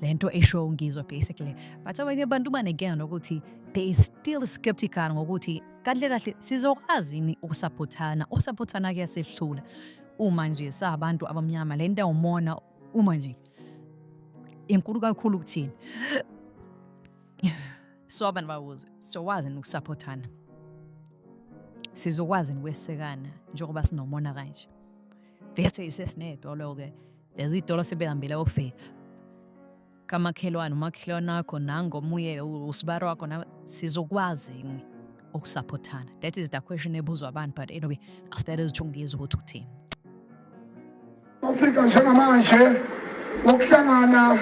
le nto esho ungizwe basically but abanye abantu banekena nokuthi they is still skeptical ngokuthi kahle kahle sizokwazi yini ukusaphothana usaphothana kuyasehlula uma nje sabantu abamnyama le nto umona uma nje inkulu kakhulu kuthini so abantu babuze sokwazi yini ukusaphothana sizokwazi yini ukwesekana njengoba sinomona kanje bese isesinedwa loko-ke Lezi iy'tolo sebehambile ofe kamakhelwane umakhelwane wakho nangomuye usibaro wakho na sizokwazi yini ukusaphothana that is the question ebuzwa abantu but anyway asitele ezitho ngizwe ukuthi uthini ukufika njengamanje ukuhlangana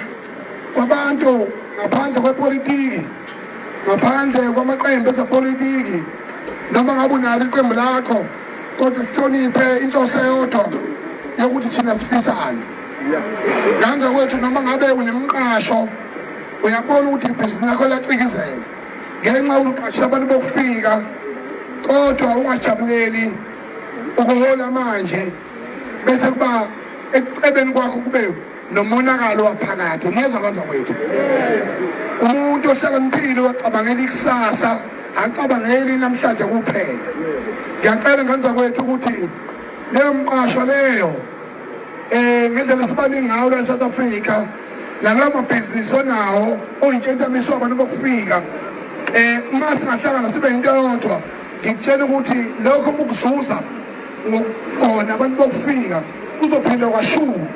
kwabantu ngaphandle kwepolitiki ngaphandle kwamaqembu ezepolitiki noma ngabe unalo iqembu lakho kodwa sihloniphe inhloso eyodwa yokuthi thina sifisane nganje kwethu noma ngabe unemqasho uyabona ukuthi ibhizinisi lakho liyacikizela ngenxa yokuqasha abantu bokufika kodwa ungajabuleli ukuhola manje bese kuba ekucebeni kwakho kube nomonakalo waphakathi umeza kwanza kwethu umuntu ohlakaniphile wacabangela ikusasa acabangeli namhlanje kuphela ngiyacela ngenza kwethu ukuthi leyo mqasho leyo um ngendlela sibaningi ngawo la e-south africa nalawo mabhizinisi onawo oyintshentamiso abantu bokufika um uma singahlangana sibe yinto yodwa ngikutshela ukuthi lokho mukuzuza ngokugona abantu bokufika uzophinde kwashuka